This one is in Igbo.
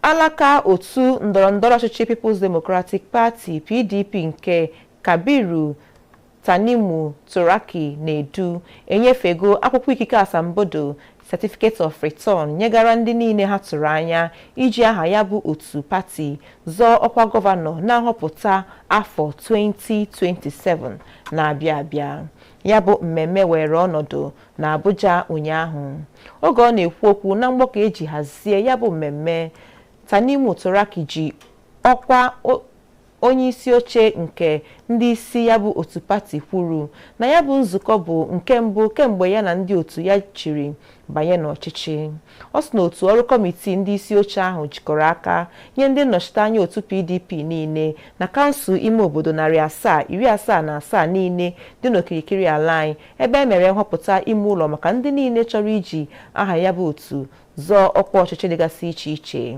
alaka otu ndọrọndọrọ ọchịchị People's Democratic Party PDP nke Kabiru Tanimu Turaki na-edu enyefego akwụkwọ ikike asambodo certificate of return nyegara ndị niile ha tụrụ anya iji aha ya bụ otu pati zọọ ọkwa gọvanọ na nhọpụta afọ 2027 na-abịa abịa ya bụ mmemme were ọnọdụ na Abuja ụnyaahụ oge ọ na-ekwu okwu na mgbakọ eji hazie ya bụ mmemme Tanimu Turaki ji ọkwa onye isi oche nke ndị isi ya bụ otu pati kwuru na ya bụ nzukọ bụ nke mbụ kemgbe ya na ndị otu ya jiri banye n'ọchịchị Ọ sị na otu ọrụ kọmitii ndị isi oche ahụ jikọrọ aka nye ndị nnọchiteanya otu PDP niile na kansụl ime obodo narị asaa iri asaa na asaa niile dị n'okirikiri ala anyị ebe e mere nhọpụta ime ụlọ maka ndị niile chọrọ iji aha ya bụ otu zọọ ọkwa ọchịchị dịgasị iche iche.